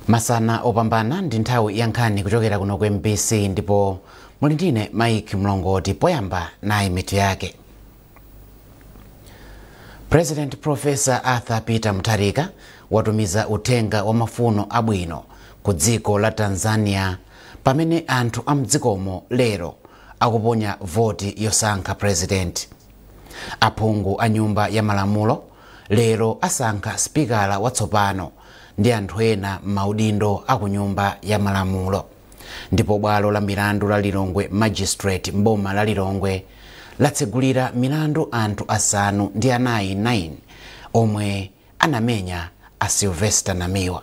masana opambana ndi nthawi ya nkhani kuchokera kuno ku mbc ndipo muli ndine mike mlongoti poyamba nayi mitu yake president profesa arthur peter mutharika watumiza uthenga wa mafuno abwino ku dziko la tanzania pamene anthu a mdzikomo lero akuponya voti yosankha president aphungu a nyumba ya malamulo lero asankha sipikala watsopano ndi anthu ena m'maudindo a ku Nyumba ya Malamulo ndipo bwalo la milandu la Lilongwe Magistrate m'boma la Lilongwe latsegulira milandu anthu asanu ndi anayi 9 omwe anamenya a Sylvester Namiwa.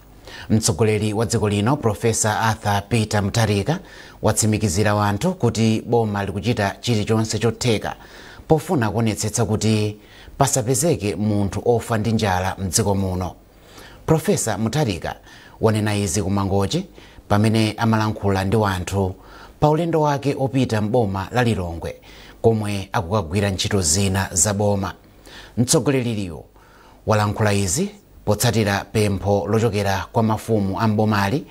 mtsogoleri wa dziko lino Professor arthur peter mutharika watsimikizira wanthu kuti boma likuchita chilichonse chotheka pofuna kuonetsetsa kuti pasapezeke munthu ofa ndi njala mdziko muno Professor mutharika wanena izi kumangochi pamene amalankhula ndi wanthu pa ulendo wake opita m'boma la lilongwe komwe akukagwira ntchito zina za boma mtsogoleriyo walankhula izi potsatira pempho lochokera kwa mafumu a m'bomali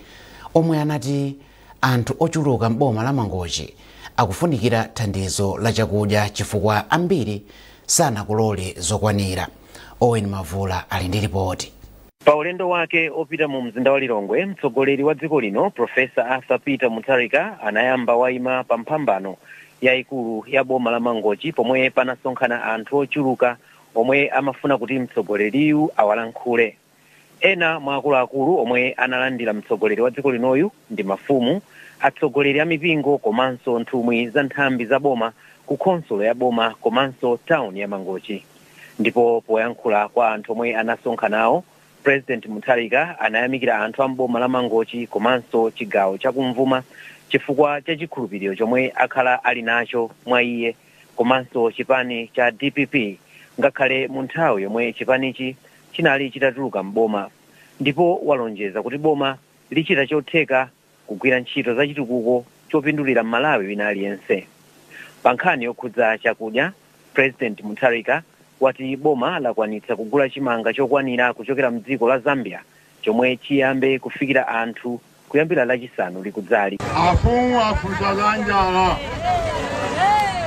omwe anati anthu ochuluka m'boma la Mangochi akufunikira thandizo la chakudya chifukwa ambiri sanakolole zokwanira. Owen Mavula ali ndi lipoti. Pa ulendo wake opita mu mzinda wa Lilongwe, mtsogoleri wa dziko lino Professor Arthur Peter Mutharika anayamba waima pa mphambano yaikulu ya boma la Mangochi pomwe panasonkhana anthu ochuluka omwe amafuna kuti mtsogoleriyu awalankhule. Ena mwa akuluakulu omwe analandira mtsogoleri wa dziko linoyu ndi mafumu, atsogoleri a mipingo komanso nthumwi za nthambi za boma ku khonsolo ya boma komanso town ya Mangochi. Ndipo poyankhula kwa anthu omwe anasonkhanawo, President Mutharika anayamikira anthu a m'boma la Mangochi komanso chigawo chakumvuma chifukwa cha chikhulupiriro chomwe akhala ali nacho mwa iye. komanso chipani cha dpp ngakhale mu nthawi yomwe chipanichi chinali chitatuluka m'boma ndipo walonjeza kuti boma lichita chotheka kugwira ntchito za chitukuko chopindulira mmalawi wina aliyense pa nkhani yokhudza chakudya president mutharika wati boma lakwanitsa kugula chimanga chokwanira kuchokera mdziko la zambia chomwe chiyambe kufikira anthu kuyambira Lachisanu likudzali. Afumu afunsa za njala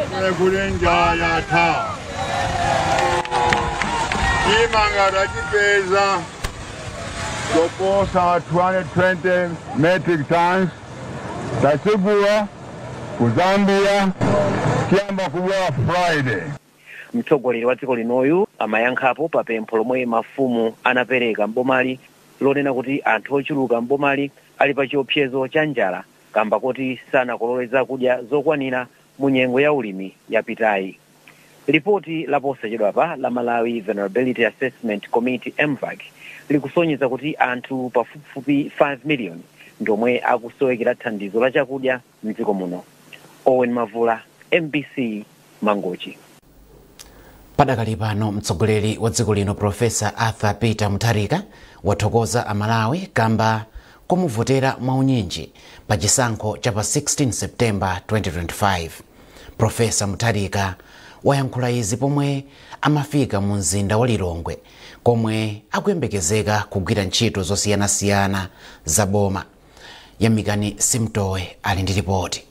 kumene kuli njala yatha chimanga tachipeza choposa 220 metric tons tachigula ku Zambia chiyamba kubwera Friday. Mtsogoleri wa dziko linoyu amayankhapo pa pempho lomwe mafumu anapereka m'bomali lonena kuti anthu ochuluka m'bomali ali pa chiopsezo cha njala kamba koti sanakolole zakudya zokwanira mu nyengo ya ulimi yapitayi. Lipoti la posachedwapa la Malawi Vulnerability Assessment Committee, MVAC, likusonyeza kuti anthu pafupifupi 5 miliyoni ndi omwe akusowekera thandizo la chakudya. mdziko muno owen mavula mbc mangochi padakali pano mtsogoleri wa dziko lino profesa arthur peter mutharika wathokoza amalawi kamba komuvotera mwaunyinji pa chisankho cha pa 16 september 2025 profesa mutharika wayankhula izi pomwe amafika mu mzinda wa lilongwe komwe akuyembekezeka kugwira ntchito zosiyanasiyana za boma yamikani simtowe ali ndi lipoti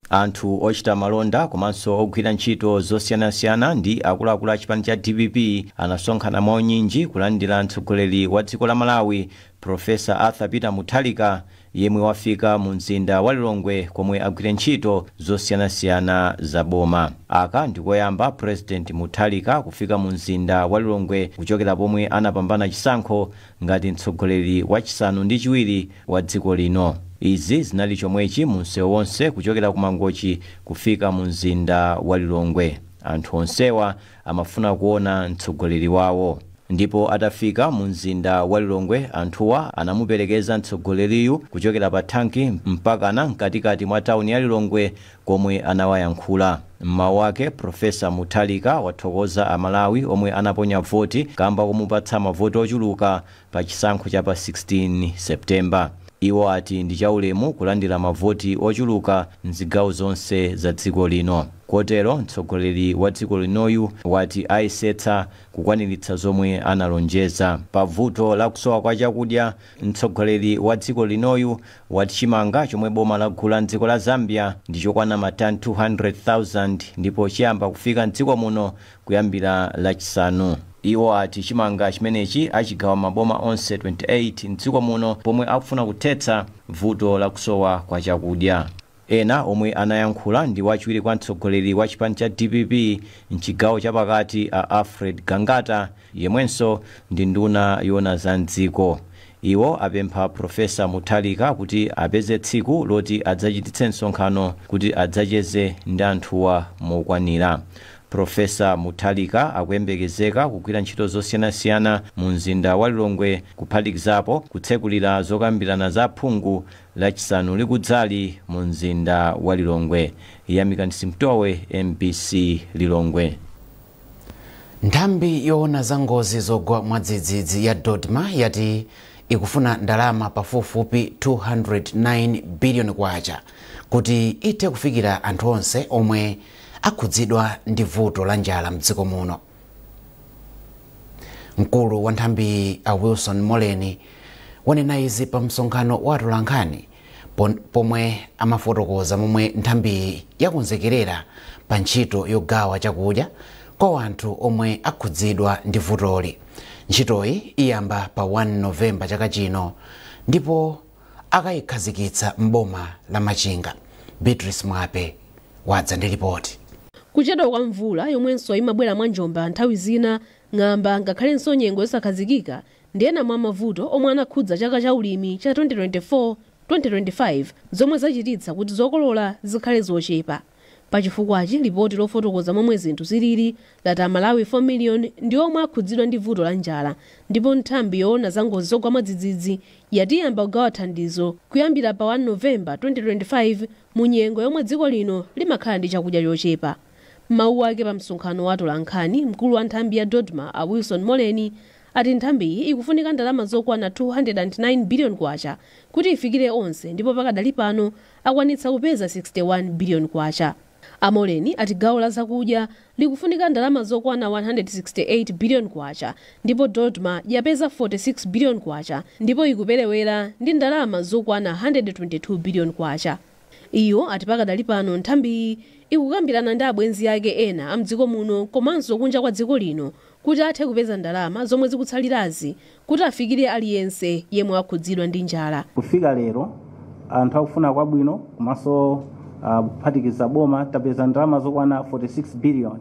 anthu ochita malonda komanso ogwira ntchito zosiyanasiyana ndi akuluakulu a chipani cha dpp anasonkhana mwaunyinji kulandira mtsogoleri wa dziko la malawi profesa arthur peter mutharika yemwe wafika mu mzinda wa lilongwe komwe agwire ntchito zosiyanasiyana za boma aka ndikoyamba president mutharika kufika mu mzinda wa lilongwe kuchokera pomwe anapambana chisankho ngati mtsogoleri wachisanu ndi chiwiri wa dziko lino. Izi zinali chomwechi mu msewu wonse kuchokera ku Mangochi kufika mu mzinda wa Lilongwe. Anthu onsewa amafuna kuona mtsogoleri wawo. Ndipo atafika mu mzinda wa Lilongwe anthuwa anamuperekeza mtsogoleriyu kuchokera pa thanki mpakana mkatikati mwa tauni ya Lilongwe komwe anawayankhula. M'mawu ake, Prof Mutharika wathokoza a Malawi omwe anaponya voti kamba komupatsa mavoti ochuluka pa chisankho cha pa 16 September. Iwo ati ndi chaulemu kulandira mavoti ochuluka m'zigawo zonse za dziko lino. Kotero mtsogoleri wa dziko linoyu wati ayesetsa kukwaniritsa zomwe analonjeza. Pa vuto la kusowa kwa chakudya, mtsogoleri wa dziko linoyu wati chimanga chomwe boma lagula m'dziko la Zambia ndi chokwana matani 200,000 ndipo chiyamba kufika m'dziko muno kuyambira Lachisanu. Iwo ati chimanga chimenechi achigawa m'maboma onse 28 m'dziko muno pomwe akufuna kuthetsa vuto la kusowa kwa chakudya. Ena omwe anayankhula ndi wachiwiri kwa mtsogoleri wa chipani cha dpp m'chigawo cha pakati a Alfred Gangata yemwenso ndi nduna yoona za m'dziko. Iwo apempha Prof Mutharika kuti apeze tsiku loti adzachititse msonkhano kuti adzacheze ndi anthuwa mokwanira. Prof Mutharika akuyembekezeka kugwira ntchito zosiyanasiyana mu mzinda wa Lilongwe kuphatikizapo kutsekulira zokambirana za aphungu Lachisanu likudzali mu mzinda wa Lilongwe. Yamikani Simtowe, mbc Lilongwe. Nthambi yoona za ngozi zogwa mwadzidzidzi ya Dodma yati ikufuna ndalama pafupifupi K209 biliyoni kuti ithe kufikira anthu onse omwe akhudzidwa ndi vuto la njala m'dziko muno. mkulu wa nthambiyi a wilson moleni wanena izi pa msonkhano wa atolankhani pomwe amafotokoza momwe nthambiyi yakonzekerera pa ntchito yogawa chakudya kwa wanthu omwe akhudzidwa ndi vutoli ntchitoyi iyamba pa 1 novemba chaka chino ndipo akayikhazikitsa m'boma la Machinga. Beatrice Mwape wadza ndi lipoti. Kuchedwa kwa mvula yomwenso imabwera mwa njomba nthawi zina, ng'amba ngakhalenso nyengo yosakhazikika ndi ena mwa mavuto omwe anakhudza chaka cha ulimi cha 2024, 2025 zomwe zachititsa kuti zokolola zikhale zochepa. Pa chifukwachi, lipoti lofotokoza momwe zinthu zilili lati a Malawi 4 million ndi omwe akhudzidwa ndi vuto la njala ndipo nthambi yoona za ngozi zogwa mwadzidzidzi yati iyamba kugawa thandizo kuyambira pa 1 November 2025 mu nyengo yomwe dziko lino limakhala ndi chakudya chochepa. M'mawu ake pa msonkhano wa atolankhani, mkulu wa nthambi ya Dodma a Wilson Moleni ati nthambiyi ikufunika ndalama zokwana K209 billion kuti ifikire onse ndipo pakadali pano akwanitsa kupeza K61 billion. A Moleni ati gawo la zakudya likufunika ndalama zokwana K168 billion ndipo Dodma yapeza K46 billion ndipo ikuperewera ndi ndalama zokwana K122 billion. Iwo ati pakadali pano nthambiyi ikukambirana ndi abwenzi ake ena a mdziko muno komanso kunja kwa dziko lino kuti athe kupeza ndalama zomwe zikutsalirazi kuti afikire aliyense yemwe wakhudzidwa ndi njala. Kufika lero, anthu akufuna kwabwino komanso ah, kuphatikiza boma tapeza ndalama zokwana 46 billion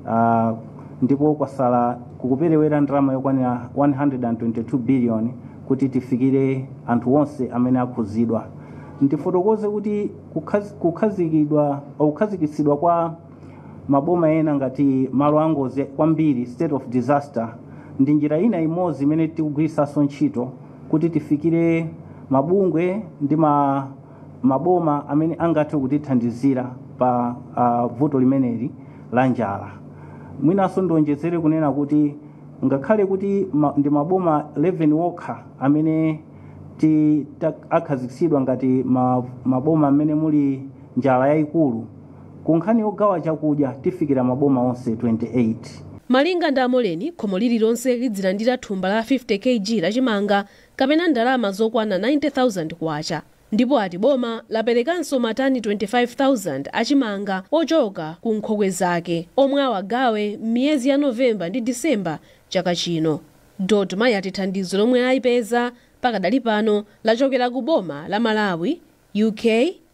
Ah, ndipo kwasala kukuperewera ndalama yokwanira 122 billion kuti tifikire anthu onse amene akhudzidwa. Ndifotokoze kuti kukhaz- kukhazikidwa kukhazikitsidwa kwa maboma ena ngati malo angozi kwambiri state of disaster ndi njira ina imodzi imene tikugwiritsanso ntchito kuti tifikire mabungwe ndi ma, maboma amene angathe kutithandizira pa uh, vuto limeneli la njala mwinanso ndionjezere kunena kuti ngakhale kuti ma, ndi maboma 11 wokha amene ti- ta- akhazikitsidwa ngati ma- maboma amene muli njala yayikulu Ku nkhani yogawa chakudya tifikira maboma onse 28. Malinga ndi a Moleni, khomo lililonse lidzilandira thumba la 50 Kg la chimanga kapena ndalama zokwana K90,000 ndipo ati boma laperekanso matani 25,000 a chimanga ochoka ku nkhokwe zake omwe awagawe m'miyezi ya November ndi December chaka chino. Dodma yati thandizo lomwe ayipeza pakadali pano lachokera ku boma la Malawi UK,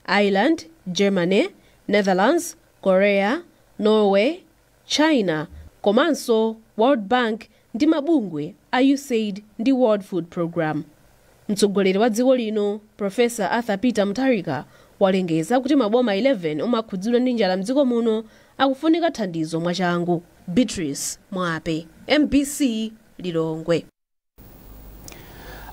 Ireland, Germany, Netherlands, Korea, Norway, China, komanso World Bank ndi mabungwe a Usaid ndi World Food Programme. Mtsogoleri wa dziko lino, Professor Arthur Peter Mutharika, walengeza kuti maboma 11 omwe akhudzidwa ndi njala mdziko muno akufunika thandizo mwachangu. Beatrice Mwape, mbc, Lilongwe.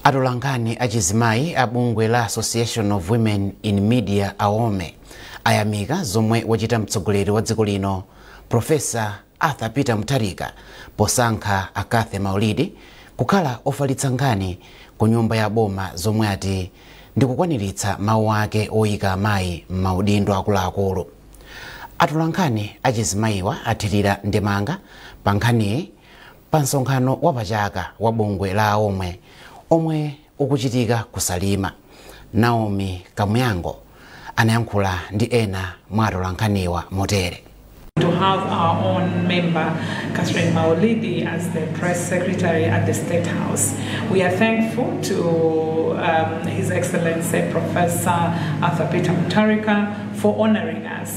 atolankhani achizimayi a bungwe la association of women in media awome ayamika zomwe wachita mtsogoleri wa dziko lino profesa arthur peter mutharika posankha a cathy maulidi kukhala ofalitsa nkhani ku nyumba ya boma zomwe ati ndikukwaniritsa mawu ake oyika amayi m'maudindo akuluakulu atolankhani achizimayiwa athirira ndemanga pa nkhaniyi pa msonkhano wa pachaka wa bungwe la awome omwe ukuchitika ku salima naomi kamuyango anayankhula ndi ena mwa atolankhaniwa motere to have our own member, Catherine Maulidi, as the press secretary at the State House. We are thankful to um, His Excellency Professor Arthur Peter Mutharika for honoring us.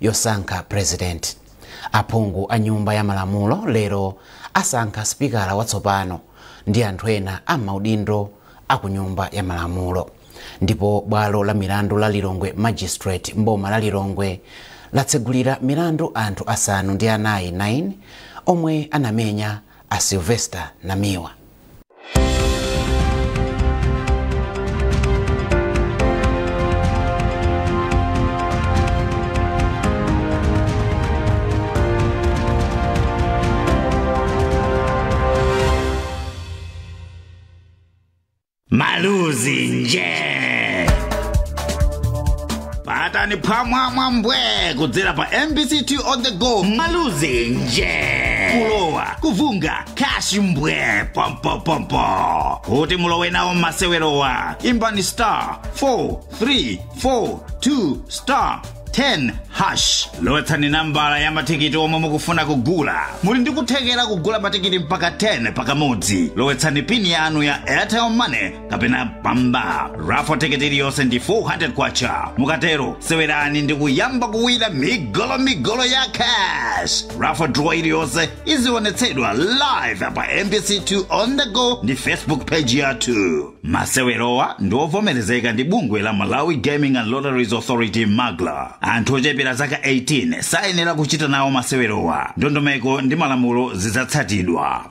yosankha Prezidenti. Aphungu a Nyumba ya Malamulo lero asankha sipikala watsopano ndi anthu ena a m'maudindo a ku Nyumba ya Malamulo ndipo bwalo la milandu la Lilongwe Magistrate m'boma la Lilongwe latsegulira milandu anthu asanu ndi anayi 9 omwe anamenya a Sylvester Namiwa. maluzi nje patani phamwamwa mbwe kudzera pa mbc 2 on the go maluzi nje kulowa kuvunga cash mbwee pompopompo kuti mulowe nawo m'masewerowa imbani star 4342 star 10 hash lowetsani nambala ya matikiti omwe mukufuna kugula muli ndi kuthekera kugula matikiti mpaka 10 pakamodzi lowetsani pini yanu ya airtel money kapena mpamba raffle tikiti iliyonse ndi 400 kwacha mukatero sewerani ndi kuyamba kuwina migolomigolo ya cash raffle draw iliyonse izionetsedwa live pa mbc2 on the go ndi facebook page yathu masewerowa ndi ovomerezeka ndi bungwe la malawi gaming and lotteries authority magla anthu ochepera zaka 18 sayenera kuchita nawo masewerowa ndondomeko ndi malamulo zidzatsatidwa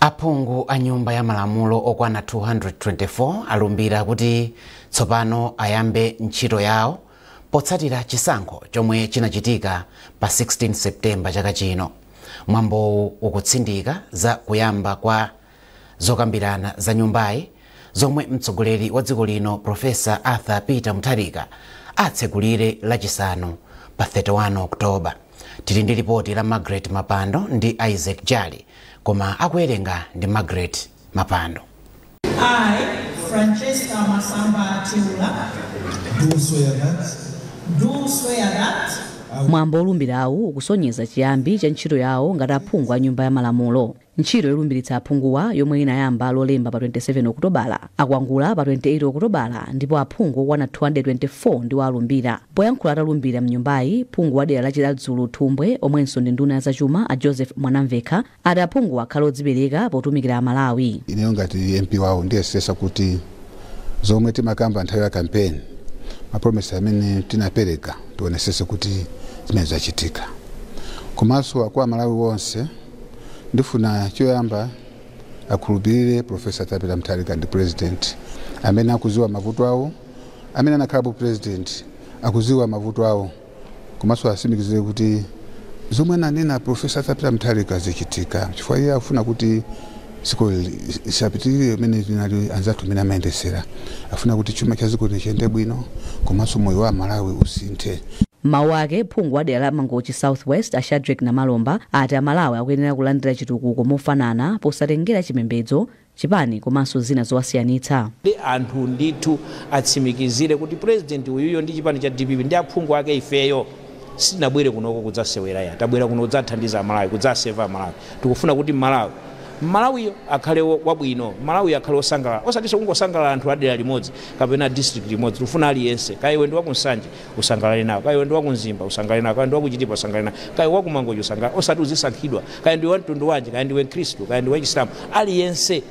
aphungu a nyumba ya malamulo okwana 224 alumbira kuti tsopano ayambe ntchito yawo potsatira chisankho chomwe chinachitika pa 16 septemba chaka chino mwambowu ukutsindika za kuyamba kwa zokambirana za nyumbayi zomwe mtsogoleri wa dziko lino profesa arthur peter mutharika atsegulire lachisanu pa 31 oktoba Tili ndi lipoti la Margaret Mapando ndi Isaac Jali koma akuwerenga ndi Margaret Mapando. I, Francesca Masamba Theula, do swear that do swear that Mwambo wolumbirawu ukusonyeza chiyambi cha ntchito yawo ngati aphungu a Nyumba ya Malamulo. Ntchito yolumbiritsa aphunguwa yomwe inayamba Lolemba pa 27 Okutobala, akwangula pa 28 Okutobala ndipo aphungu okwana 224 ndiwo alumbira. Poyankhula atalumbira m'nyumbayi, phungu wa dera la Chiradzulu Thumbwe omwenso ndi nduna ya zachuma a Joseph Mwanamvekha ati aphunguwa akhale odzipereka potumikira Amalawi. Ineyo ngati MP wawo ndiyesetsa kuti zomwe timakamba nthawi ya campaign, ma promises amene tinapereka tionetsetse kuti zimenezo zachitika. Komanso kwa Amalawi onse, Ndifuna choyamba akhulupirire Prof. Arthur Peter Mutharika ndi president amene akuziwa mavuto awo, amene anakhalapo president akuziwa mavuto awo komanso asimikizire kuti zomwe ananena Prof. Arthur Peter Mutharika zichitika chifukwa iye akufuna kuti dziko lisapitirire mmene linali anzathu mmene amayendetsera afuna kuti chuma cha dziko lino chiyende bwino komanso moyo wa amalawi usinthe. M'mawu ake, phungu wa dera la Mangochi South West a Shadreck Namalomba ati amalawi akuyenera kulandira chitukuko mofanana posatengera chipembedzo, chipani komanso zina zowasiyanitsa. Anthu ndithu atsimikizire kuti president uyuyo ndi chipani cha dpp ndi aphungu ake ifeyo. sitinabwere kunoko kudzasewera ya tabwera kuno kudzathandiza malawi kudzaseva malawi tikufuna kuti malawi malawiyo akhale wo- wabwino malawiyo akhale osangalala osatinso kungosangalala anthu adera limodzi kapena district limodzi tikufuna aliyense kaya iwe ndi wakunsanje usangalale nawo kaya iwe ndi wakumzimba usangalale nawo kaya ndi wakuchitipa usangalale nawo kaya wakumangochi usangalale osati uzisankhidwa kaya ndiwe wamtundu wanji kaya ndiwe mkhristu kaya ndiwe chisilamu aliyense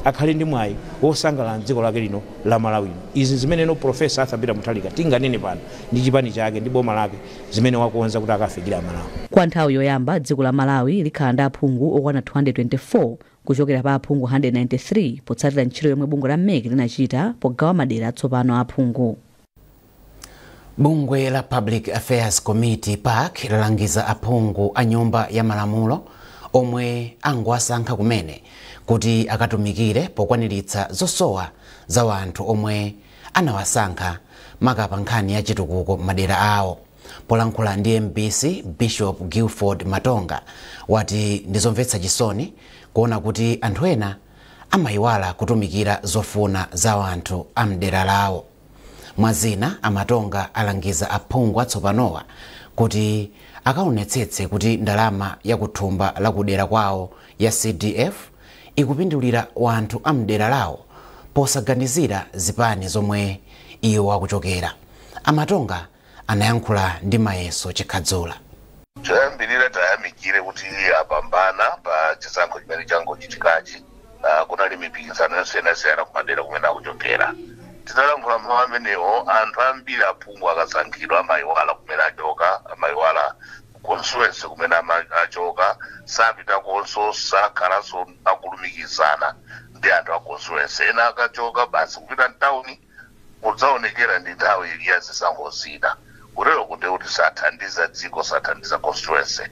akhale ndi mwayi wosangalala mdziko lake lino la malawi izi zimene no profesa arthur peter mutharika tinganene pano ndi chipani chake ndi boma lake zimene wakonza kuti akafikire Amalawi. Kwa nthawi yoyamba, dziko la Malawi likhala ndi aphungu okwana 224 kuchokera pa aphungu 193 potsatira ntchito yomwe bungwe la mec linachita pogawa madera atsopano a aphungu. Bungwe la Public Affairs Committee pac lalangiza aphungu a Nyumba ya Malamulo omwe angowasankha kumene kuti akatumikire pokwaniritsa zosowa za wanthu omwe anawasankha maka pa nkhani ya chitukuko m'madera awo. Polankhula ndi mbc, Bishop Gilford Matonga wati ndi zomvetsa chisoni kuona kuti anthu ena amayiwala kutumikira zofuna za wanthu a m'dera lawo. Mwa zina, a Matonga alangiza aphungu atsopanowa kuti akaonetsetse kuti ndalama ya kuthumba la kudera kwawo ya CDF ikupindulira wanthu amdera lawo posaganizira zipani zomwe iwo akuchokera. A Matonga anayankhula ndi Mayeso Chikhadzula. choyambirira tayamikire kuti apambana pa chisankho chimene changochitikachi Ah, kunali mipikisano yosiyanasiyana kumadera kumene akuchokera titalankhula mawu amenewo anthu ambiri aphungu akasankhidwa amayiwala kumene achoka amayiwala constituency kumene amachokera sapitakonso sakhalanso akulumikizana ndi anthu a constituency ena akachoka basi kupita mtawuni kudzaonekera ndi nthawi ya zisankho zina kutereko ndiye kuti sathandiza dziko sathandiza constituency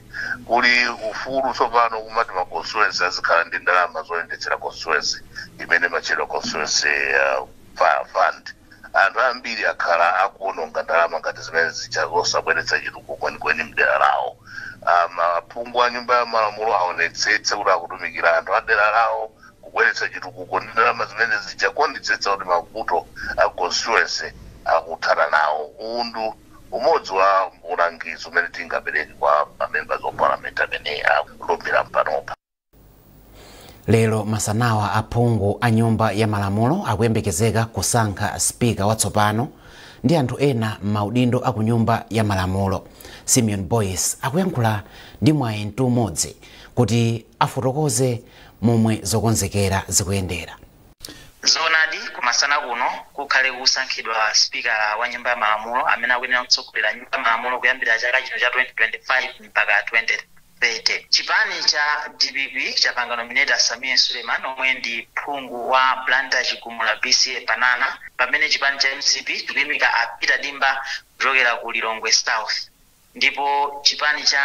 kuli ufulu tsopano kumati ma constituency azikhala ndi ndalama zoyendetsera constituency imene imatchedwa constituency uh, fa- fund Anthu ambiri akhala akuononga ndalama ngati zimene zija zosabweretsa chitukuko kwenikweni mdera lawo. Aphungu a nyumba ya malamulo aonetsetse kuti akutumikira anthu a dera lawo kubweretsa chitukuko ndi ndalama zimene zija kuonetsetsa kuti mavuto a constituency akuthana nawo. Uwu ndi umodzi wa ulangizi umene tingapereke kwa ma members of parliament amene alumbira mpanopa. lero masanawa aphungu a nyumba ya malamulo akuyembekezeka kusankha spika watsopano ndi anthu ena m'maudindo a ku nyumba ya malamulo simeon boyce akuyankhula ndi mwayi mtuumodzi kuti afotokoze momwe zokonzekera zikuyendera zoonadi kumasana kuno kukhale kusankhidwa spikala wa nyumba ya malamulo amene akuyenera kutsogolera nyumba ya malamulo kuyambira chaka chino cha 2025 mpaka 20 30. Chipani cha dpp chapanga nominate a Sameer Suleiman omwe ndi phungu wa Blantyre Chigumula BCA Banana pamene chipani cha mcp chikuyimika a Peter Dimba kuchokera ku Lilongwe South ndipo chipani cha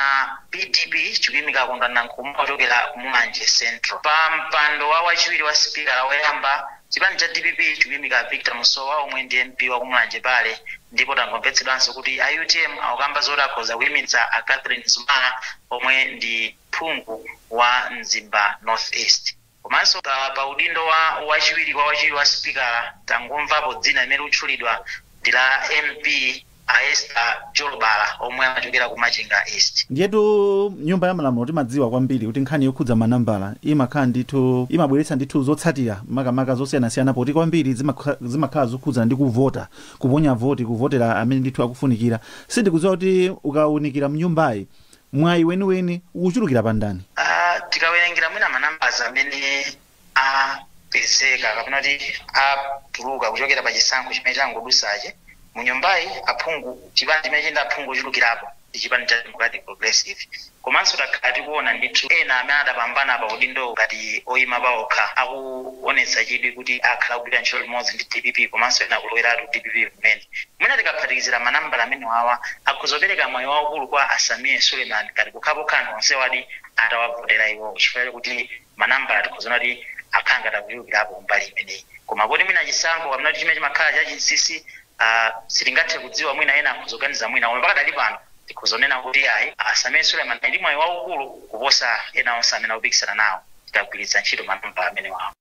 PDP chikuyimika a Kondwani Nankhumwa kuchokera ku Mulanje Central. Pa mpando wa wachiwiri wa sipikala woyamba, chipani cha dpp chikuyimika a Victor Musowa omwe ndi MP wa ku Mulanje Bale Ndipo tangomvetsedwanso kuti a utm akukamba zoti akhoza kuimitsa a Catherine Mzumara omwe ndi phungu wa Mzimba North East. Komanso pa pa udindo wa wachiwiri kwa wachiwiri wa sipikala tangomvapo dzina limene likutchulidwa ndi la MP a Esther Jolobala omwe amachokera ku Machinga East. Ndiyetu m'nyumba ya malamulo timadziwa kwambiri kuti nkhani yokhudza manambala imakhala ndithu imabweretsa ndithu zotsatira makamaka zosiyanasiyana poti kwambiri zimakha- zimakhala zokhudzana ndi kuvota kuponya voti kuvotera amene ndithu akufunikira sindikudziwa kuti ukaunikira mnyumbayi mwayi weniweni ukuchulukira pa ndani Ah, tikawerengera mwina manambala amene apezeka kapena kuti atuluka kuchokera pa chisankho chimene changodusachi mu nyumbayi aphungu chipani chimene chili ndi aphungu ochulukirapo ndi chipani cha Democratic Progressive komanso takhala tikuona ndithu ena amene adapambana pa udindo ngati oyima paokha akuonetsa chidwi kuti akhala akugwira ntchito limodzi ndi dpp komanso ena akuloweratu dpp kumene. Mwina tikaphatikizira manambala amenewawa akhoza kupereka mwayi waukulu kwa a Sameer Suleiman ngati pokhapokha anthu onsewadi atawavotera iwowo chifukwa chakuti manambala tikhoza kuona kuti akhala ngati akuchulukirapo kumbali imeneyi. Koma poti mwina chisankho kapena kuti chimene chimakhala chachinsinsi Ah, sitingathe kudziwa mwina ena akhoza kuganiza mwina koma pakadali pano tikhoza kunena kuti ayi a Sameer Suleiman ali ndi mwayi waukulu kuposa ena onse amene akupikisana nawo tikagwiritsa ntchito manambala amenewawo.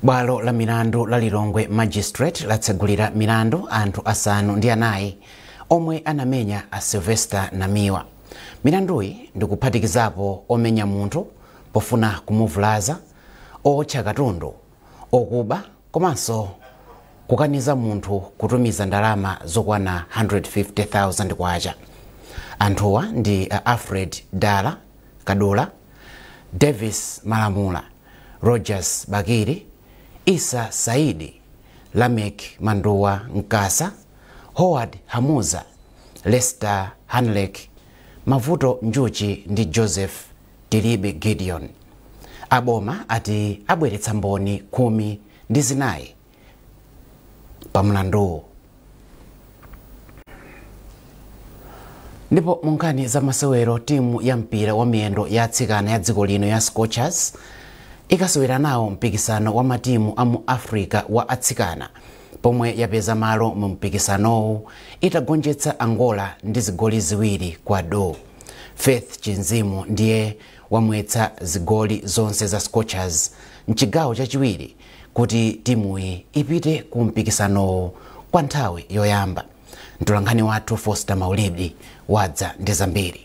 bwalo la milandu la lilongwe magistrate latsegulira milandu anthu asanu ndi anayi omwe anamenya a sylvester namiwa milanduyi ndikuphatikizapo omenya munthu pofuna kumuvulaza owotcha katundu okuba komanso kukaniza munthu kutumiza ndalama zokwana 150,000 kwacha anthuwa ndi alfred dala kadula davis malamula rogers bakili issa saidi lameck manduwa mkasa howard hamuza lester hanleck mavuto njuchi ndi joseph Tilibe Gideon. Aboma ati abweretsa mboni khumi ndi zinayi pa mlanduwu. Ndipo mu nkhani za masewero timu ya mpira wa miyendo ya atsikana ya dziko lino ya Scorchers ikasewera nawo mpikisano wa matimu a mu Africa wa atsikana pomwe yapeza malo mu mpikisanowu itagonjetsa Angola ndi zigoli ziwiri kwa do. Faith Chinzimu ndiye wamwetsa zigoli zonse za Scorchers mchigawo chachiwiri kuti timuyi ipite ku mpikisanowu kwa nthawi yoyamba. Mtolankhani wathu Foster Maulidi wadza ndi zambiri.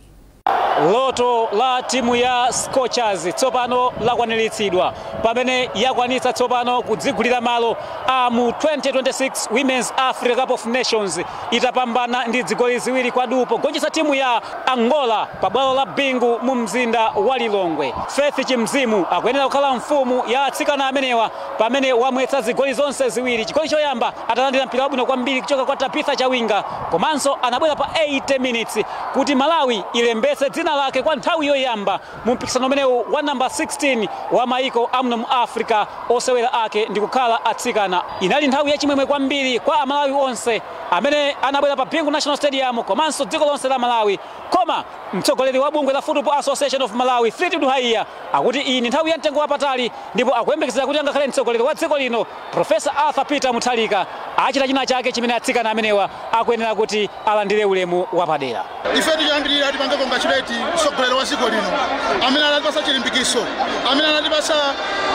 Loto la timu ya Scorchers tsopano lakwaniritsidwa pamene yakwanitsa tsopano kudzigulira malo a mu 2026 Women's Africa Cup of Nations itapambana ndi dzigoli ziwiri kwa duu pogonjetsa timu ya Angola pa bwalo la Bingu mu mzinda wa Lilongwe. Faith Chinzimu akuyenera kukhala mfumu ya atsikana amenewa pamene wamwetsa zigoli zonse ziwiri, chigoli choyamba atalandira mpira wabwino kwambiri kuchoka kwa Tabitha Chawinga komanso anabwera pa 80 minutes kuti Malawi ilembetse dzina lake kwa nthawi yoyamba Mu mpikisano umenewu wa number 16 wa maiko amuno mu Africa osewera ake ndikukhala atsikana, inali nthawi ya chimwemwe kwambiri kwa a Malawi onse amene anabwera pa Bingu National Stadium komanso dziko lonse la Malawi koma mtsogoleri wa bungwe la Football Association of Malawi Fleetwood Haiya akuti iyi ndi nthawi ya mtengo wapatali ndipo akuyembekezera kuti angakhale mtsogoleri wa dziko lino Professor Arthur Peter Mutharika achita china chake chimene atsikana amenewa akuyenera kuti alandire ulemu wapadera. Ifetu choyambirira tipange congratulate mtsogoleri wa dziko lino amene anatipatsa chilimbikitso, amene anatipatsa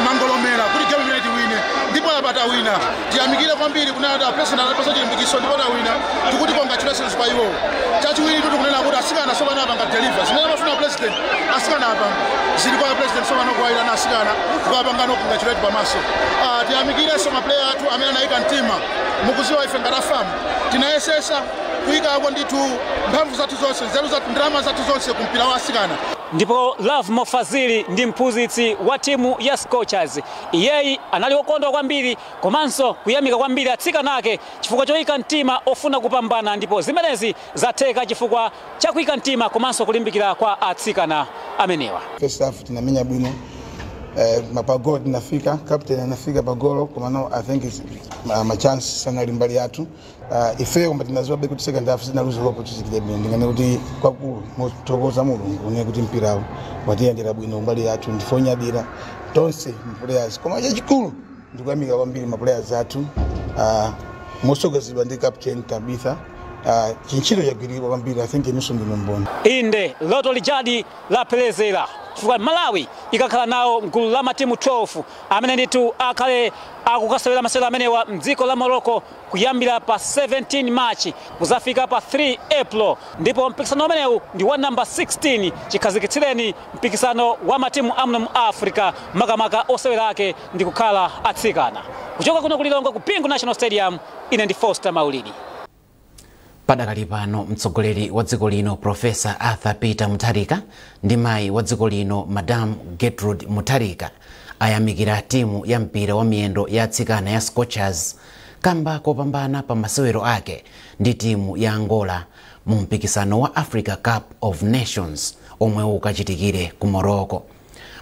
mangolomera kuti game imeneyi tiwine ndipo apa tawina. Tiyamikire kwambiri kunena kuti a president anatipatsa chilimbikitso ndipo tawina, tikuti congratulations kwa iwowo. Chachiwiritu tikunena kuti atsikana tsopano apanga deliver zimene amafuna president, atsikana apa zili kwa president tsopano kuwayitana atsikana kukapangano congratulate pamaso. Ah, tiyamikirenso mapuleya athu amene anayika mtima mukuziwa ife ngati a FAM tinayesesa kuyikako ndithu mphamvu zathu zonse nzeru zathu ndalama zathu zonse ku mpira wa asikana ndipo lovemore fazili ndi mphunzitsi wa timu ya scorchers iyeyi anali okondwa kwambiri komanso kuyamika kwambiri atsikana ake chifukwa choyika mtima ofuna kupambana ndipo zimenezi zatheka chifukwa cha kuika mtima komanso kulimbikira kwa atsikana amenewa. First half tinamenya bwino eh, ma pa golo tinafika captain anafika pa golo komano I think it's, ma, ma chance sanali mbali yathu uh, ife koma tinaziwabe kuti second half sitinaluze hope kuti tikile bwino ndinganene kuti kwakukulu nkumuthokoza mulungu ine kuti mpirawo watiyendera bwino mbali yathu ndife onyadira tonse players koma chachikulu ndikuyamika kwambiri ma players athu ah, mosogozedwa ndi captain tabitha ah, chintchito chagwirika kwambiri i think inunso ndinu mboni inde loto lijadi lapherezera chifukwa malawi ikakhala nawo mgulu la matimu 12 amene ndithu akhale akukasewera masewero amenewa mdziko la morocco kuyambira pa 17 march kuzafika pa 3 april ndipo mpikisano umenewu ndi wa namba 16 chikhazikitsireni Mpikisano wa matimu amuno mu Africa makamaka osewera ake ndi kukhala atsikana. Kuchoka kuno ku Lilongwe ku Bingu National Stadium, ine ndi Foster Maulidi. Padakali pano mtsogoleri wa dziko lino Professor Arthur Peter Mutharika ndi mayi wa dziko lino Madam Gertrude Mutharika ayamikira timu ya mpira wa miyendo ya atsikana ya Scorchers kamba kopambana pa masewero ake ndi timu ya Angola mu mpikisano wa Africa Cup of Nations omwe ukachitikire ku Morocco.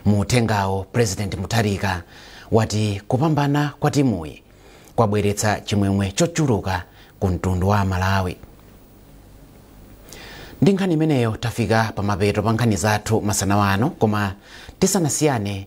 Mu uthengawo, President Mutharika wati kupambana kwa timuyi kwabweretsa chimwemwe chochuluka ku mtundu wa Malawi. Ndi nkhani imeneyo tafika pamapeto pa nkhani zathu masana wano, koma tisanasiyane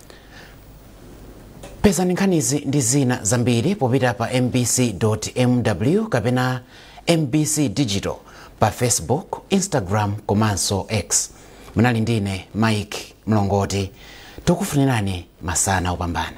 pezani nkhanizi ndi zina zambiri popita pa mbc.mw kapena mbc digital pa facebook instagram komanso x munali ndine mike mlongoti tikufunirani masana opambana